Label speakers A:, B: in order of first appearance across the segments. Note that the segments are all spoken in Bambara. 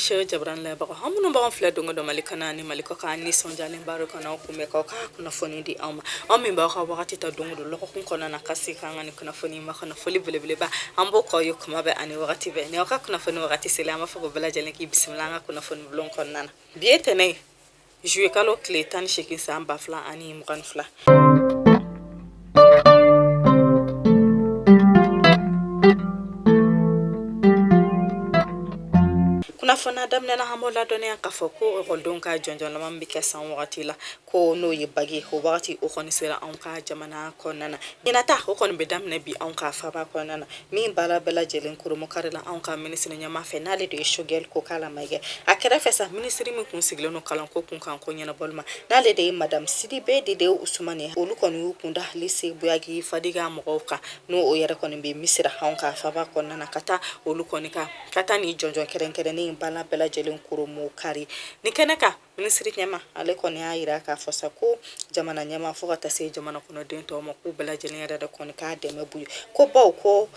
A: sɛ jabarani lajɛbagaw aw minnu b'an filɛ don o don mali kɔnɔ ani mali kɔkan an nisɔndiyalenba don ka na aw kunbɛn k'aw ka kunnafoni di aw ma aw min b'aw ka wagati ta don o don lɔgɔkun kɔnɔna na ka se k'an ka nin kunnafoni makɔnɔ foli belebeleba an b'o k'aw ye kuma bɛɛ ani wagati bɛɛ ni aw ka kunnafoni wagati sera an b'a fɔ ko bɛɛ lajɛlen k'i bisimila an ka kunnafoni bulon kɔnɔna na bi ye tɛnɛn ye Zuluyekalo tile tan ni 8 san ba fila ani mugan ni fila kunnafoni daminɛ na an b'aw ladɔnniya k'a fɔ ko lɔkɔlidenw ka jɔnjɔn laban bɛ kɛ san wagati la ko n'o ye bagi o wagati o kɔni sera an ka jamana kɔnɔna na ɲinan ta o kɔni bɛ daminɛ bi an ka faaba kɔnɔna na min baara bɛɛ lajɛlen kurunbonkarila anw ka minisiri ɲɛmaa fɛ n'ale de ye Sogɛli Kokala Mayiga ye a kɛrɛfɛ sa minisiri min tun sigilen don kalanko kunkanko ɲɛnabɔli ma n'ale de ye madamu Sidibe Dedeu Usumani ye olu kɔni y'u kun da lise Buyagi Fadiga mɔgɔw kan n'o o yɛrɛ kɔni bɛ misira anw ka faaba kɔnɔna na ka taa olu kɔni kan ka taa nin jɔnjɔn kɛrɛnkɛrɛnnen in baara bɛɛ lajɛlen kurunbonkari nin kɛnɛ kan Minisiri ɲɛmaa ale kɔni y'a jira k'a fɔ sa ko jamana ɲɛmaa fo ka taa se jamana kɔnɔden tɔw ma k'u bɛɛ lajɛlen yɛrɛ de kɔni ka dɛmɛ b'u ye ko baw ko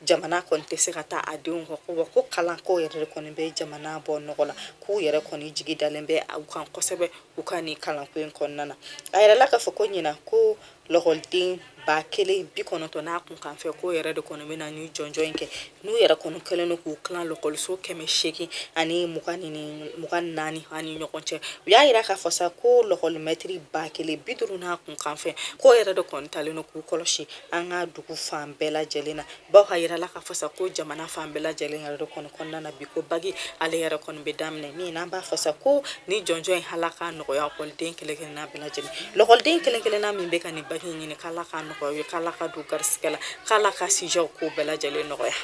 A: jamana kɔni tɛ se ka taa a denw kɔ ko ko kalanko yɛrɛ de kɔni bɛ jamana bɔ nɔgɔ la k'u yɛrɛ kɔni jigi dalen bɛ u kan kosɛbɛ u ka nin kalanko in kɔnɔna na a yirala k'a fɔ ko ɲinan ko lɔkɔliden ba kelen bi kɔnɔntɔn n'a kunkanfɛn k'o yɛrɛ de kɔni bɛna nin jɔnjɔn in kɛ n'u yɛrɛ kɔni kɛlen don k'u tilan lɔkɔliso kɛmɛ seegin ani mugan ni mugan naani ani ɲɔgɔn cɛ u y'a yira k'a fɔ sa ko lɔkɔlimɛtiri ba kelen bi duuru n'a kunkanfɛn k'o yɛrɛ de kɔni talen don k'u kɔlɔsi an ka dugu fan bɛɛ lajɛlen na Baw k'a jirala k'a fɔ sa ko jamana fan bɛɛ lajɛlen yɛrɛ de kɔni kɔnɔna na bi ko bagi ale yɛrɛ kɔni bɛ daminɛ min n'an b'a fɔ sa ko nin jɔnjɔn in ala k'a nɔgɔya lɔkɔliden kelenkelenna bɛɛ lajɛlen lɔkɔliden kelenkelenna min bɛ ka nin bagi in ɲini k'ala k'a nɔgɔya u ye k'ala k'a don u garisigɛ la k'ala ka sujet ko bɛɛ lajɛlen nɔgɔya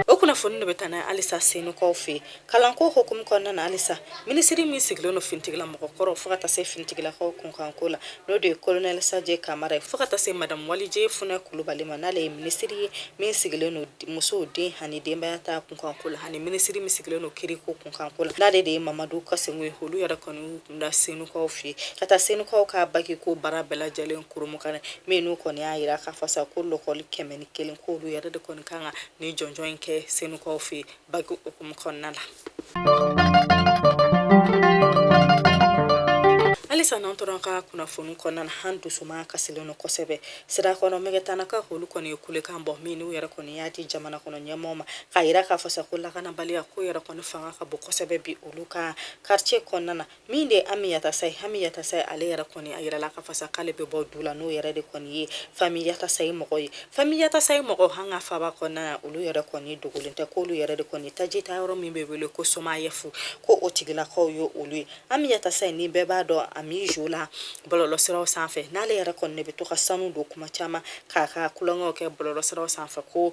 A: o kunnafoni de bɛ taa n'an halisa Senukaw fɛ Kalanko hukumu kɔnɔna na halisa minisiri min sigilen don finitigila mɔgɔkɔrɔ fo ka taa se finitigilakaw kunkanko la n'o de ye kolonɛli Sajo Kamara ye fo ka taa se madamu Wadije Funɛ Kulubali ma n'ale ye minisiri ye min sigilen don musow den ani denbaya ta kunkanko la ani minisiri min sigilen don kiiriko kunkanko la n'ale de ye Mamadu Kasoge ye olu yɛrɛ kɔni y'u kun da Senukaw fɛ yen ka taa Senukaw ka bakiko baara bɛɛ lajɛlen kurunbonkari min n'u kɔni y'a jira k'a fɔ sa ko lɔkɔli kɛmɛ ni kelen ko olu yɛrɛ de kɔni kan ka nin jɔnjɔn in kɛ Senukaw fɛ yen bagi hukumu kɔnɔna la halisa n'an tora an ka kunnafoni kɔnɔna na an dusumakasilen don kosɛbɛ Sirakɔrɔ Megetanakaw k'olu kɔni ye kulekan bɔ min n'u yɛrɛ kɔni y'a di jamana kɔnɔ ɲɛmɔgɔ ma k'a yira k'a fɔ sa ko lakanabaliya ko yɛrɛ kɔni fanga ka bon kosɛbɛ bi olu ka quartier kɔnɔna na Min de ye Ami Yatasaye, Ami Yatasaye ale yɛrɛ kɔni a yirala k'a fɔ sa k'ale bɛ bɔ du la n'o yɛrɛ de kɔni ye Fami Yatasaye mɔgɔ ye. Fami Yatasaye mɔgɔ an ka faaba kɔnɔna na olu yɛrɛ kɔni dogolen tɛ k'olu yɛrɛ de kɔni taji ta yɔrɔ min bɛ wele ko Somayɛfu ko o tigilakaw ye olu ye. Ami Yatasaye ni bɛɛ b'a dɔn Ami Jo la bɔlɔlɔsiraw sanfɛ n'ale yɛrɛ kɔni de bɛ to ka sanu don kuma caman k'a ka kulonkɛw kɛ bɔlɔlɔsiraw sanfɛ ko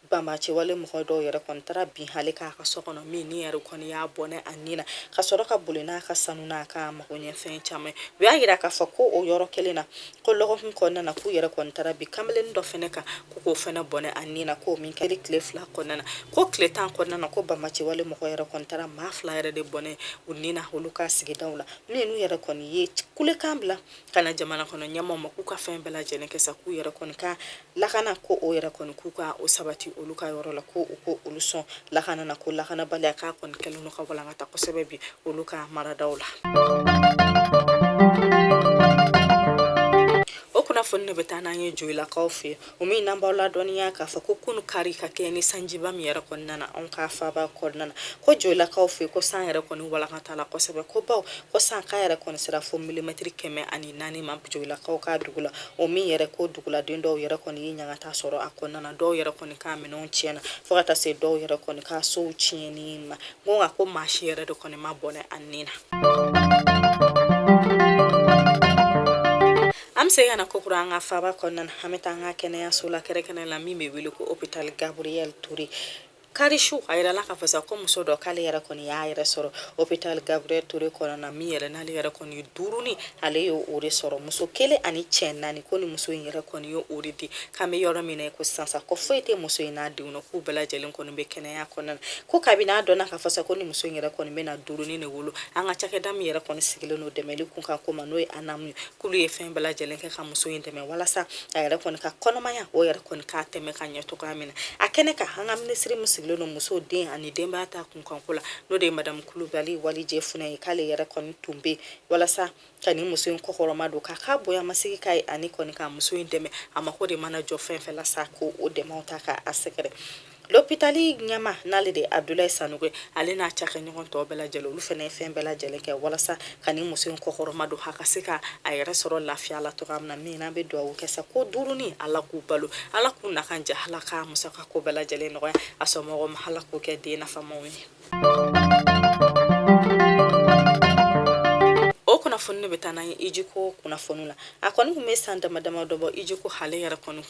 A: bamacɛwale mɔgɔ dɔw yɛrɛ kɔni taara bin ale kan a ka so kɔnɔ minnu yɛrɛ kɔni y'a bɔnɛ a ni na ka sɔrɔ ka boli n'a ka sanu n'a ka magoɲɛfɛn caman ye u y'a yira k'a fɔ ko o yɔrɔ kelen na ko lɔgɔkun kɔnɔna na k'u yɛrɛ kɔni taara bin kamalen dɔ fɛnɛ kan ko k'o fɛnɛ bɔnɛ a ni na k'o min kɛli tile fila kɔnɔna na ko tile tan kɔnɔna na ko bamacɛwale mɔgɔ yɛrɛ kɔni taara maa fila yɛrɛ de bɔnɛ u ni na olu ka sigidaw la min n'u yɛrɛ kɔni ye kulekan bila ka na jamana kɔnɔ ɲɛmɔgɔw ma k'u ka fɛn bɛɛ lajɛlen kɛ sa k'u yɛrɛ kɔni ka lakana ko o yɛrɛ kɔni k'u ka o sabati olu ka yɔrɔ la ko u ko olu sɔn lakana na ko lakanabaliya k'a kɔni kɛlen don ka walankata kosɛbɛ bi olu ka maradaw la kunnafoni nin bɛ taa n'an ye joyilakaw fɛ yen o min n'an b'aw ladɔnniya k'a fɔ ko kunu kari ka kɛ ni sanjiba min yɛrɛ kɔni nana anw ka faaba kɔnɔna na ko joyilakaw fɛ yen ko san yɛrɛ kɔni walankatala kosɛbɛ kobaw ko san k'a yɛrɛ kɔni sera fo milimɛtiri kɛmɛ ani naani ma joyilakaw ka dugu la o min yɛrɛ ko duguladen dɔw yɛrɛ kɔni ye ɲangata sɔrɔ a kɔnɔna dɔw yɛrɛ kɔni ka minɛn tiɲɛna fo ka taa se dɔw yɛrɛ kɔni ka sow tiɲɛni ma ko nka ko maa si yɛrɛ de kɔni ma bɔnɛ a ni na an bɛ se ka na kokura an ka faaba kɔnɔna an bɛ taa an ka kɛnɛyaso la kɛrɛnkɛrɛnnenya la min bɛ wele ko opitali gaburiyɛli ture Kari su a yirala k'a fɔ sa ko muso dɔ k'ale yɛrɛ kɔni y'a yɛrɛ sɔrɔ opitali gaburiyɛli ture kɔnɔna na min yɛrɛ n'ale yɛrɛ kɔni duurunin ale ye o de sɔrɔ muso kelen ani cɛ naani ko ni muso in yɛrɛ kɔni ye o de di k'an bɛ yɔrɔ min ko sisan sa ko foyi tɛ muso in n'a denw na k'u bɛɛ lajɛlen kɔni bɛ kɛnɛya kɔnɔna na ko kabini a dɔnna k'a fɔ sa ko ni muso in yɛrɛ kɔni bɛna duurunin de wolo an ka cakɛda min yɛrɛ kɔni sigilen don dɛmɛli kunkanko ma n'o ye ANAM ye k'olu ye fɛn bɛɛ lajɛlen kɛ ka muso in dɛmɛ walasa a yɛrɛ kɔni ka kɔnɔmaya o yɛrɛ kɔni ka tɛmɛ ka ɲɛ cogoya min na a kɛnɛ kan an ka minisiri min sigilen don muso den ani denbaya ta kunkanko la n'o de ye madamu kulubali walijɛ funɛ ye k'ale yɛrɛ kɔni tun bɛ walasa ka nin muso in kɔkɔrɔmadon k'a ka bonyamasigi k'a ye ani kɔni ka muso in dɛmɛ a mako de mana jɔ fɛn fɛn la sa ko o dɛmɛw ta k'a sɛgɛrɛ Lopitali ɲɛmaa n'ale de abudulayi sanɔgɔ ale n'a cakɛɲɔgɔn tɔw bɛɛ lajɛlen olu fɛnɛ ye fɛn bɛɛ lajɛlen kɛ walasa ka ni muso in kɔkɔrɔmadon a ka se ka a yɛrɛ sɔrɔ lafiya la cogoya min na min an bɛ dugawu kɛ sa ko duurunin ala k'u balo ala k'u nakan diya ala k'a musakako bɛɛ lajɛlen nɔgɔya a somɔgɔw ma ala k'u kɛ den nafamaw ye kunnafoni bɛ taa n'an ye hijiko kunnafoni la a kɔni tun bɛ san dama dama dɔ bɔ hijiko ale yɛrɛ kɔni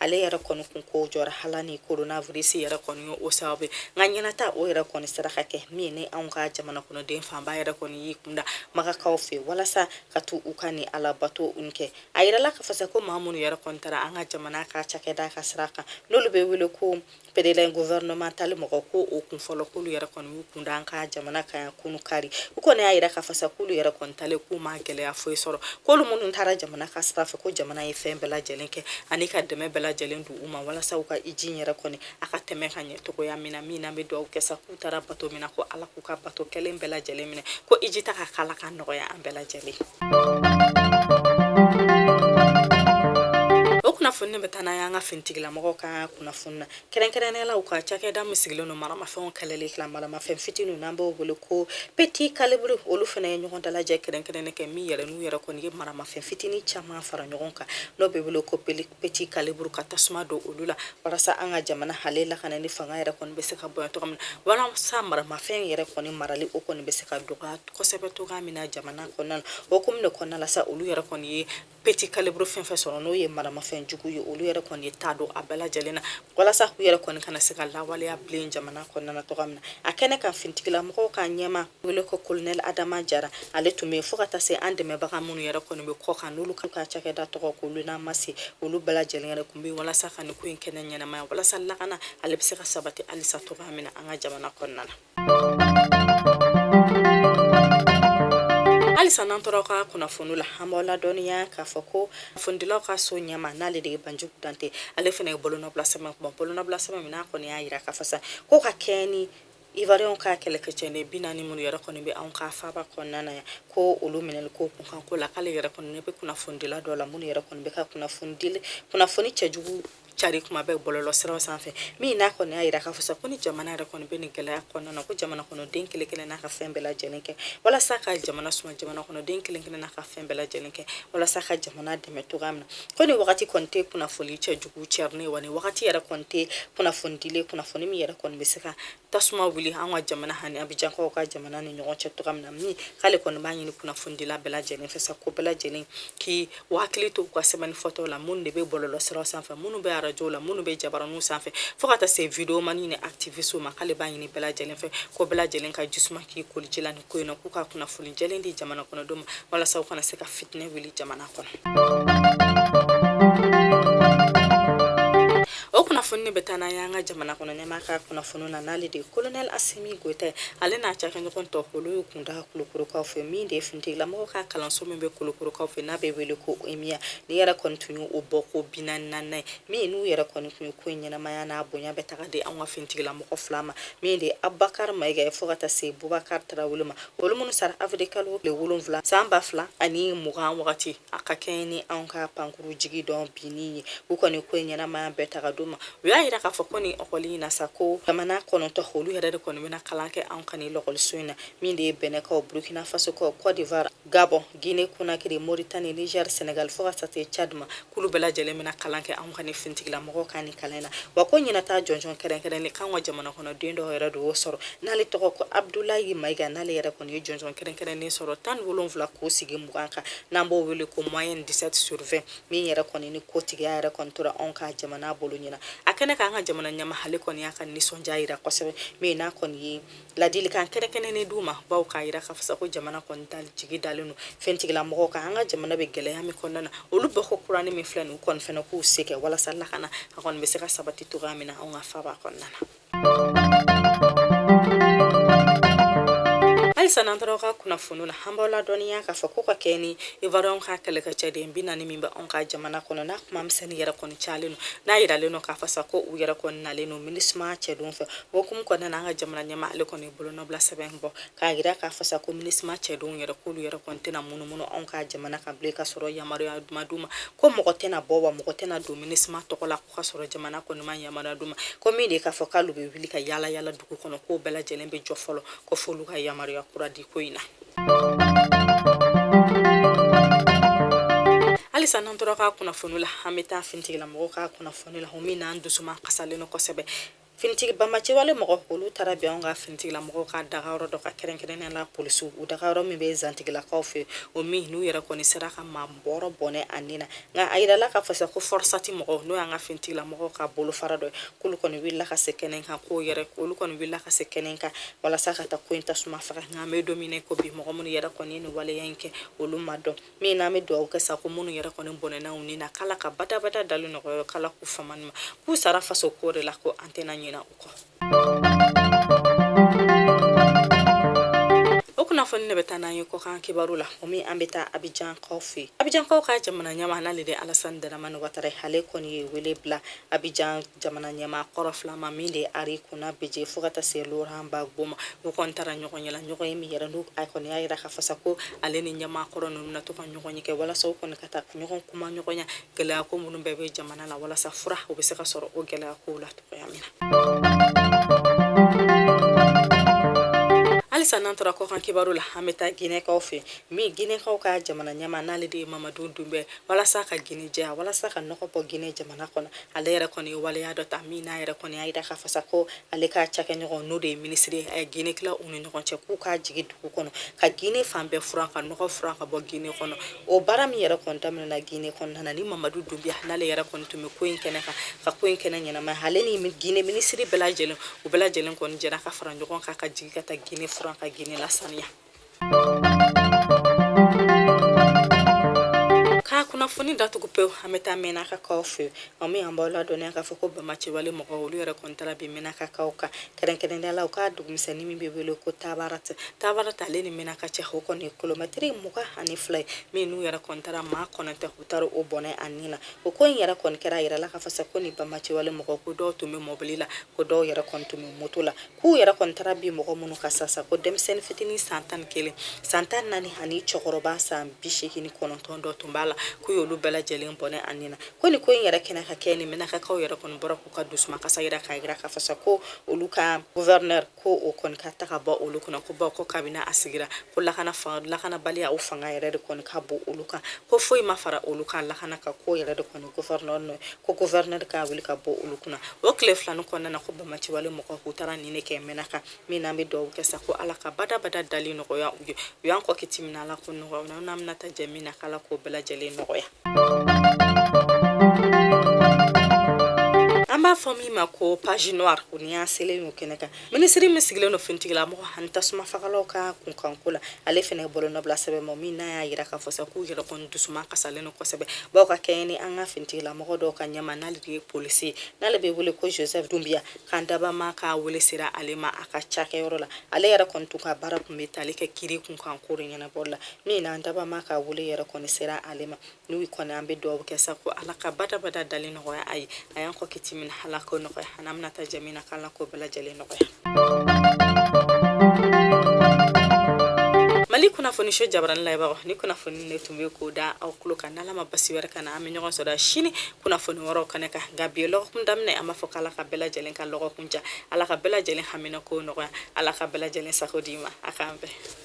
A: ale yɛrɛ kɔni kun ko jɔra hala ni coronavirus yɛrɛ kɔni ye o sababu ye nka ɲinan ta o yɛrɛ kɔni sera ka kɛ min ni anw ka jamana kɔnɔden fanba yɛrɛ kɔni y'i kunda makakaw fɛ walasa ka taa u ka nin alabato in kɛ a yirala k'a fɔ sa ko maa minnu yɛrɛ kɔni taara an ka jamana ka cakɛda ka sira kan n'olu bɛ wele ko pèlerin gouvernemental mɔgɔ ko o kun fɔlɔ k'olu yɛrɛ kɔni y'u kun da an ka jamana kan yan kunu kari u kɔni y'a yira k'a fɔ sa k'olu yɛrɛ kɔni taalen k'u ma gɛlɛya foyi sɔrɔ k'olu minnu taara jamana ka sira fɛ ko jamana ye fɛn bɛɛ lajɛlen kɛ ani ka dɛmɛ bɛɛ lajɛlen don u ma walasa u ka hiji yɛrɛ kɔni a ka tɛmɛ ka ɲɛ cogoya min na min n'an bɛ dugawu kɛ sa u taara bato min na ko ala k'u ka bato kɛlen bɛɛ lajɛlen minɛ ko hiji taa ko k'ala k'a nɔgɔya an bɛɛ lajɛlen kunnafoni bɛ taa n'an y'an ka finitigilamɔgɔw ka kunnafoni na kɛrɛnkɛrɛnnenya la u ka cakɛda min sigilen don maramafɛnw kɛlɛli kila maramafɛn fitiniw n'an b'o wele ko petit calibre olu fana ye ɲɔgɔn dalajɛ kɛrɛnkɛrɛnnen kɛ min yɛrɛ n'u yɛrɛ kɔni ye maramafɛn fitini caman fara ɲɔgɔn kan n'o bɛ wele ko peti petit calibre ka tasuma don olu la walasa an ka jamana ale lakanani fanga yɛrɛ kɔni bɛ se ka bonya cogo min na walasa maramafɛn yɛrɛ kɔni marali o kɔni bɛ se ka dɔgɔya kosɛbɛ cogoya min na jamana kɔnɔna na o hukumu de kɔnɔna la sa olu yɛrɛ kɔni ye petit calibre fɛn fɛn sɔrɔ n'o ye maramafɛn jugu ye olu yɛrɛ kɔni ye ta don a bɛɛ lajɛlen na walasa u yɛrɛ kɔni kana se ka lawaleya bilen jamana kɔnɔna na cogoya min na a kɛnɛ kan finitigilamɔgɔw ka ɲɛmaa wele ko kolonɛli adama jara ale tun bɛ fo ka taa se an dɛmɛbaga minnu yɛrɛ kɔni bɛ kɔkan n'olu ka cakɛda tɔgɔ ko l'UNMAS olu bɛɛ lajɛlen yɛrɛ tun bɛ walasa ka nin ko in kɛnɛ ɲɛnamaya walasa lakana ale bɛ se ka sabati halisa cogoya min na an ka jamana kɔnɔna na halisa n'an tora ka kunnafoni la an b'aw ladɔnniya k'a fɔ ko kunnafonidilaw ka so ɲɛmaa n'ale de ye banjugu dante ale fana ye bolonɔbila sɛbɛn kuma bolonɔbila sɛbɛn min n'a kɔni y'a yira k'a fɔ sa ko ka kɛɲɛ ni ivoiriyɛnw ka kɛlɛkɛcɛden bi naani minnu yɛrɛ kɔni bɛ anw ka faaba kɔnɔna na yan ko olu minɛli ko kunkanko la k'ale yɛrɛ kɔni ɲɛ bɛ kunnafonidila dɔw la minnu yɛrɛ kɔni bɛ ka kunnafonidili kunnafoni cɛjugu cari kuma bɛɛ bɔlɔlɔ siraw sanfɛ min n'a kɔni y'a yira k'a fɔ sa ko ni jamana yɛrɛ kɔni bɛ nin gɛlɛya kɔnɔna na ko jamana kɔnɔden kelen kelen na ka fɛn bɛɛ lajɛlen kɛ walasa ka jamana suma jamana kɔnɔden kelen kelen na ka fɛn bɛɛ lajɛlen kɛ walasa ka jamana dɛmɛ cogoya min na ko nin wagati kɔni tɛ kunnafoni cɛjugu cɛrin ye wa nin wagati yɛrɛ kɔni tɛ kunnafoni dili kunnafoni min yɛrɛ kɔni bɛ se ka tasuma wuli an ka jamana ani abijankaw ka jamana ni ɲɔgɔn cɛ cogoya min na min k'ale kɔni b'a ɲini kunnafonidila bɛɛ lajɛlen fɛ sa ko bɛɛ lajɛlen k'i hakili to u ka sɛbɛnni fɔtaw la minnu de bɛ bɔlɔlɔ siraw sanfɛ minnu bɛ arajow la minnu bɛ jabaraninw sanfɛ fo ka taa se videomani ni activistiw ma k'ale b'a ɲini bɛɛ lajɛlen fɛ ko bɛɛ lajɛlen ka ji suma k'i koli ji la ko in na k'u ka kunnafoni jɛlen di jamana kɔnɔdenw ma walasa u kana se ka fitinɛ wuli jamana kɔnɔ o kunnafoni bɛ taa n'an y'an ka jamana kɔnɔ ɲɛmaa ka kunnafoni na n'ale de ye kolonɛli asimi goyita ye ale n'a cakɛɲɔgɔn tɔw olu ye kunda kulukorokaw fɛ min de ye finitigilamɔgɔ ka kalanso min bɛ kulukorokaw fɛ n'a bɛ wele ko emiya nin yɛrɛ kɔni tun ye o bɔko bi naani ni naaninan ye min n'u yɛrɛ kɔni tun ye ko in ɲɛnamaya n'a bonya bɛ taga di an ka finitigilamɔgɔ mɔgɔ fila ma min de ye abubakari mayiga ye fo ka taa se bubakari tarawele ma olu minnu sara awirili kalo tile wolonwula san ba fila ani mugan wagati a ka kɛɲɛ ni an ka pankuru jigi dɔn binni ye u kɔni ko ɲɛnamaya bɛ taga d'u ma u y'a jira k'a fɔ ko ni lɔkɔli in na sa ko jamana kɔnɔntɔ olu yɛrɛ de kɔni bɛna kalan kɛ an ka ni lɔkɔliso in na min de ye bɛnɛkaw burukina fasokaw kɔdiwari Gabɔn gine konakiri moritani nizɛri sɛnɛgali fo ka taa se cadi ma k'olu bɛɛ lajɛlen bɛna kalan kɛ anw ka ni finitigilamɔgɔw ka ni kalan na wa ko ɲinan ta jɔnjɔn kɛrɛnkɛrɛnnen k'an ka jamana kɔnɔ den dɔw yɛrɛ de y'o sɔrɔ n'ale tɔgɔ ko abudulayi mayiga n'ale yɛrɛ kɔni ye jɔnjɔn kɛrɛnkɛrɛnnen sɔrɔ tan ni wolonwula k'o sigi mugan kan n'an b'o wele ko moyenne dix-sept sur vingt min yɛrɛ kɔni ni kotigiya yɛrɛ kɔni tora anw ka jamana bolo ɲinan a kɛnɛ kan an ka jamana ɲɛmaa ale kɔni y'a ka nisɔndiya jira kosɛbɛ min n'a kɔni ye Ladilikan kɛrɛnkɛrɛnnen d'u ma bawo k'a jira k'a fɔ sa ko jamana kɔni jigi dalen don finitigilamɔgɔw kan an ka jamana bɛ gɛlɛya min kɔnɔna na olu bɔko kuranin min filɛ nin k'u fana k'u se kɛ walasa lakana a kɔni bɛ se ka sabati cogo min na an ka faba kɔnɔna na halisa n'an tora ka kunnafoni na an b'aw ladɔnniya k'a fɔ ko ka kɛɲɛ ni ivoiriens ka kɛlɛkɛ cɛden bi naani min bɛ anw ka jamana kɔnɔ n'a kuma misɛnnin yɛrɛ kɔni calen don n'a jiralen don k'a fɔ sa ko u yɛrɛ kɔni nalen don minisima cɛdenw fɛ O hukumu kɔnɔna an ka jamana ɲɛmaa ale kɔni bolonɔbila sɛbɛn bɔ k'a jira k'a fɔ sa ko minisima cɛdenw yɛrɛ k'olu yɛrɛ kɔni tɛna munumunu anw ka jamana kan bilen ka sɔrɔ yamaruya de ma d'u ma ko mɔgɔ tɛna bɔ wa mɔgɔ tɛna don minisima tɔgɔ la k'u ka sɔrɔ jamana kɔni ma yamaruya d'u ma ko min de k'a fɔ k'olu bɛ wuli ka yaala yaala dugu kɔnɔ k'o bɛɛ lajɛlen bɛ jɔ fɔlɔ ko f'olu ka yamaruya kura di ko in na halisa n'an tora ka kunnafoni la an bɛ taa finitigilamɔgɔw ka kunnafoni la o min n'an dusu makasilen don kosɛbɛ Finitigi banbaanciwale mɔgɔ olu taara bin anw ka finitigilamɔgɔw ka daga yɔrɔ dɔ kan kɛrɛnkɛrɛn la polisiw u daga yɔrɔ min bɛ zantigilakaw fɛ o min n'u yɛrɛ kɔni sera ka maa wɔɔrɔ bɔnɛ a ni na nka a jirala k'a fɔ sa ko fɔrisati mɔgɔw n'o y'an ka finitigilamɔgɔw ka bolofara dɔ k'olu kɔni wulila ka se kɛnɛ kan k'o yɛrɛ olu kɔni wulila ka se kɛnɛ kan walasa ka taa ko in tasuma faga nka an bɛ don min ko bi mɔgɔ minnu yɛrɛ kɔni ni waleya in kɛ olu ma dɔn min n'an bɛ dugawu kɛ sa ko minnu yɛrɛ kɔni bɔnɛna u ni na k'ala ka badabada dali nɔgɔya k'ala k'u famani ma k'u sara faso ko de la ko an tɛna ɲina u kɔ o kunnafoni nin bɛ taa n'an ye kɔkan kibaru la o min an bɛ taa abijankaw fɛ abijankaw ka jamana ɲɛmaa n'ale de alasani daramani watara ale kɔni ye wele bila Abijan jamana ɲɛmaa kɔrɔ fila ma min de Henri Konan Bédié fo ka taa se Laurent Gbagbo ma u kɔni taara ɲɔgɔn ɲɛna ɲɔgɔn ye min yɛrɛ n' a kɔni y'a jira k'a fɔ sa ko ale ni ɲɛmaa kɔrɔ ninnu na to ka ɲɔgɔnye kɛ walasa kɔni ka taa ɲɔgɔn kumaɲɔgɔnya gɛlɛya ko minnu bɛɛ bɛ jamana la walasa fura o bɛ se ka sɔrɔ o gɛlɛya ko la cogoya min na halisa n'an tora kɔkan kibaru la an bɛ taa ginɛkaw fɛ min ginɛkaw ka jamana ɲɛmaa n'ale de ye mamadu dunbiya walasa ka ginɛ jɛya walasa ka nɔgɔ bɔ ginɛ jamana kɔnɔ ale yɛrɛ kɔni ye waleya dɔ ta min n'a yɛrɛ kɔni y'a yira k'a fɔ sa ko ale ka cakɛɲɔgɔn n'o de ye minisiri ye a ye ginɛ tila u ni ɲɔgɔn cɛ k'u ka jigi dugu kɔnɔ ka ginɛ fan bɛɛ furan ka nɔgɔ furan ka bɔ ginɛ kɔnɔ o baara min yɛrɛ kɔni daminɛna ginɛ kɔnɔna na ni mamadu dunbiya n'ale yɛrɛ kɔni tun bɛ ko in kɛnɛ kan ka ko in kɛnɛ ɲɛnama ale ni ginɛ minisiri bɛɛ lajɛlen u bɛɛ lajɛlen kɔni jɛra ka fara ɲɔgɔn kan ka jigi ka taa ginɛ furan ka ginɛ lasaniya Ka kunnafoni datugu pewu an bɛ taa mɛnakakaw fɛ min an b'aw ladɔnniya k'a fɔ ko banbaanciwale mɔgɔ olu yɛrɛ kɔni taara bin mɛnakakaw kan kɛrɛnkɛrɛnya la u ka dugumisɛnnin min bɛ wele ko tabarat tabarat ale ni mɛnaka cɛ o kɔni kilomɛtiri mugan ani fila ye min n'u yɛrɛ kɔni taara maa kɔnɔntɔn u taara o bɔnɛ a nin na o ko in yɛrɛ kɔni kɛra a yirala k'a fɔ sa ko ni banbaanciwale mɔgɔ ko dɔw tun bɛ mɔbili la ko dɔw yɛrɛ kɔni tun bɛ moto la k'u yɛrɛ kɔni taara bin mɔgɔ minnu kan sasa ko denmisɛnnin fitinin san tan ni kelen san tan naani ani cɛkɔrɔba san bi seegin kɔnɔntɔn dɔ tun b'a la k'u y'olu bɛɛ lajɛlen bɔnɛ a nin na ko nin ko in yɛrɛ kɛnɛ ka kɛɲɛ ni mɛnakakaw yɛrɛ kɔni bɔra k'u ka dusuma kasa yira k'a yira k'a fɔ sa ko olu ka guvɛrinɛri ko o kɔni ka taa ka bɔ olu kunna ko bawo ko kabini a sigira ko lakana lakanabaliya o fanga yɛrɛ de kɔni ka bon olu kan ko foyi ma fara olu kan lakana ka ko yɛrɛ de kɔni ko ko gouverneur ka wuli ka bɔ olu kunna o tile fila nin kɔnɔna na ko banbaanciwale mɔgɔ k'u taara nin ne kɛ mɛnaka min n'an bɛ dugawu kɛ sa ko ala ka badabada dali nɔgɔya u ye u y'an kɔn kiti min na ala k'o nɔgɔya n'an bɛna taa jɛ min na k'ala k'o bɛɛ lajɛlen nɔgɔya an b'a fɔ min ma ko page noire o ni y'an selen y'o kɛnɛ kan Minisiri min sigilen don finitigila mɔgɔ ani tasumafagalaw ka kunkanko la ale fana bolonɔ bila sɛbɛn ma min n'a y'a jira k'a fɔ sa k'u yɛrɛ kɔni dusuma kasalen don kosɛbɛ bawo ka kɛɲɛ ni an ka finitigila mɔgɔ dɔ ka ɲɛmaa n'ale de ye polisi ye n'ale bɛ wele ko jozɛfu dunbiya k'an dabama ka weele sera ale ma a ka cakɛyɔrɔ la ale yɛrɛ kɔni tun ka baara tun bɛ taali kɛ kiri kunkanko ɲɛnabɔli la min n'an dabama ka weele yɛrɛ kɔni sera ale ma n'u kɔni an bɛ dugawu kɛ sa ko ala ka badabada dali nɔgɔya a ye a y'an kɔn kiti min na ala k'o nɔgɔya an bɛna taa jɛ min na k'ala k'o bɛɛ lajɛlen nɔgɔya mali kunnafoni so jabarani lajɛbagaw nin kunnafoni ne tun bɛ k'o da aw tulo kan n'ala ma basi wɛrɛ k'an na an bɛ ɲɔgɔn sɔrɔ sini kunnafoni wɛrɛw kɛnɛ kan nka bi lɔgɔkun daminɛ an b'a fɔ k'ala ka bɛɛ lajɛlen ka lɔgɔkun diya ala ka bɛɛ lajɛlen hamina ko nɔgɔya ala ka bɛɛ lajɛlen sago di ma a k'an bɛn